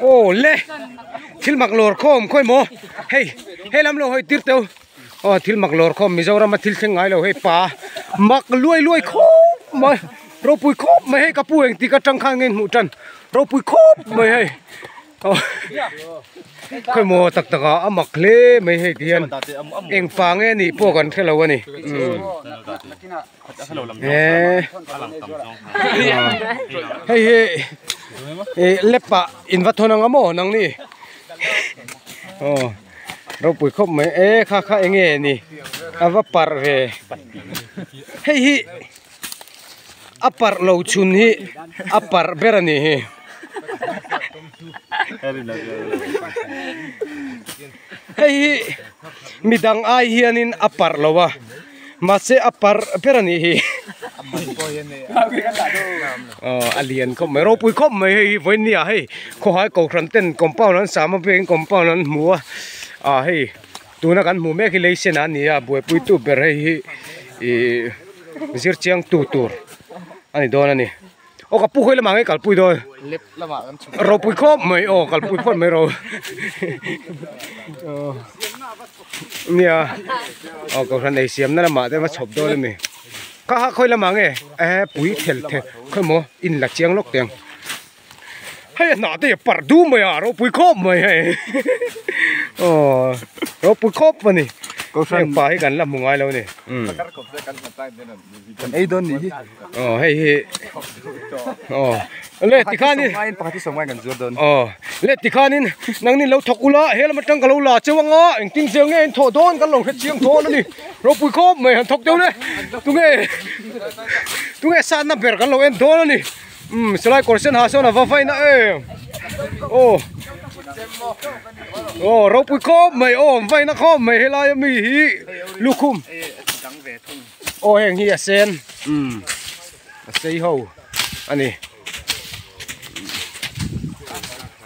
Aw le! Thil mak lawr khawm khawi maw? Hei, he lam lo hawi tir teuh. Aw thil mak lawr khawm, Mizoram-a thil thleng ngai lo hei pa. Mak luai luai khawp mai, ropui khawp mai hei ka pu eng tika tang khan nge hmuh tan. Ropui khawp mai hei. Aw khawi maw tak tak a, a mak hle mai hei ti hian. Engfah nge nih pawh kan hre lo a ni. Umm. Eh, hei hi eh, lepa in va thon anga maw nang ni oh ro pui khop mai e eh, kha kha enge ni a va par ve hei hi a par lo chun hi a par ber ani hi hei hi midang ai hianin a par lo a mahse a par ber a nih hi aw a lian khawp mai ropui khawp mai hei hi vawini ah hei khawhai kohhran ten compound an sam avêng in compound an hmu a ah hei tuna kan hmuh mêk hi lei senah a ni a buaipuitu ber hei hi ihh zirchiang tu tur a ni dâwn a ni. aw ka pu hawi lamah nge kal pui dawn lap lamah kan chhun ro pui khawp mai aw kal pui phawt mai ro aw nia aw ka hran ei siam na lamah te va chhawp dawn ami ka ha khawi lamah nge ehe pui thel thel khawi maw in la chiang lawk teng hei a hnah te hi a parh dum mai a ro pui khawp mai hei aw ro pui khawp a ni ka hran pa hi kan la hmu ngai lo a ni um. kan ei dawn ni hi aw hei hi aw le tikhan in pakhat hi pakhat hi sawm ngain kan zuar dawn aw le tikhan in nang nin lo thawk ula he lam atang ka lo la cheu anga engtin zia nge in thawh dawn kan lo hrechiang thaw alawni ropui khawp mai han thawk deuh le tunge tunge satna ber kan lo en dawn ani um salai kawr sen ha sawn a va vaina em aw aw ropui khawp mai aw vaina khawp mai helai ami hi lukhum Aw heng hi a sen umm a sei ho a ni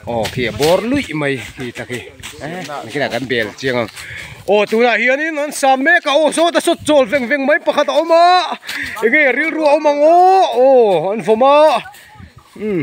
aw khi a bawr luih mai khi ta khi eh nangkhinah kan bel chiang ang aw tunah hianin an sam mek a aw sawta sawt chawl veng veng mai pakhat a awm a enge rilru a awm ang aw aw an vawm a umm.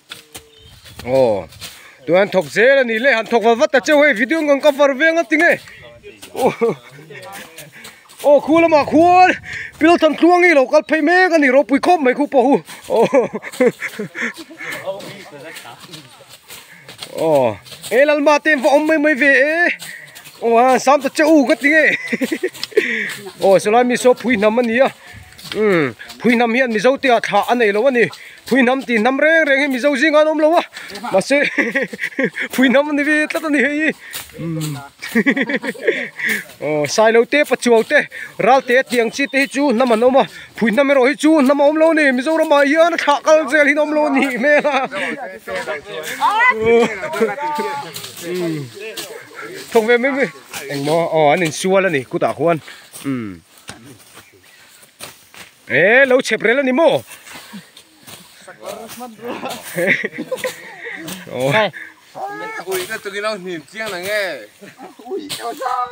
aw tun an thawk zel a nih leh han thawk va vat ta che hei video an rawn cover veng a ti nge aw khu lamah khuan pillow chhan thlua ngei lo kal phei mek a ni ropui khawp mai khu paw hu aw aw he lalma te an va awm mai mai ve e aw a an sam ta che u ka ti nge aw chulai mi saw phui hnam a ni a. Umm phuihnam hian mizo te ah thla a nei loh a ni phuihnam tih hnam reng reng hi mizo zingah an awm lo a mahse hehehehe phuihnam a ni ve tlat a ni hei hi umm hehehehe aw sailo te pachuau te ral te tiang chi te hi chu hnam an awm a phuihnam erawh hi chu hnam a awm lo a ni mizoram ah hian a thlah kal zel hi an awm lo a nih hmel a umm thawk ve mai mai engmaw aw an insual a ni kut ah khuan umm. e lo chep rel ani maw oh ui ka tukin lo hnim chiang nge ui chau chang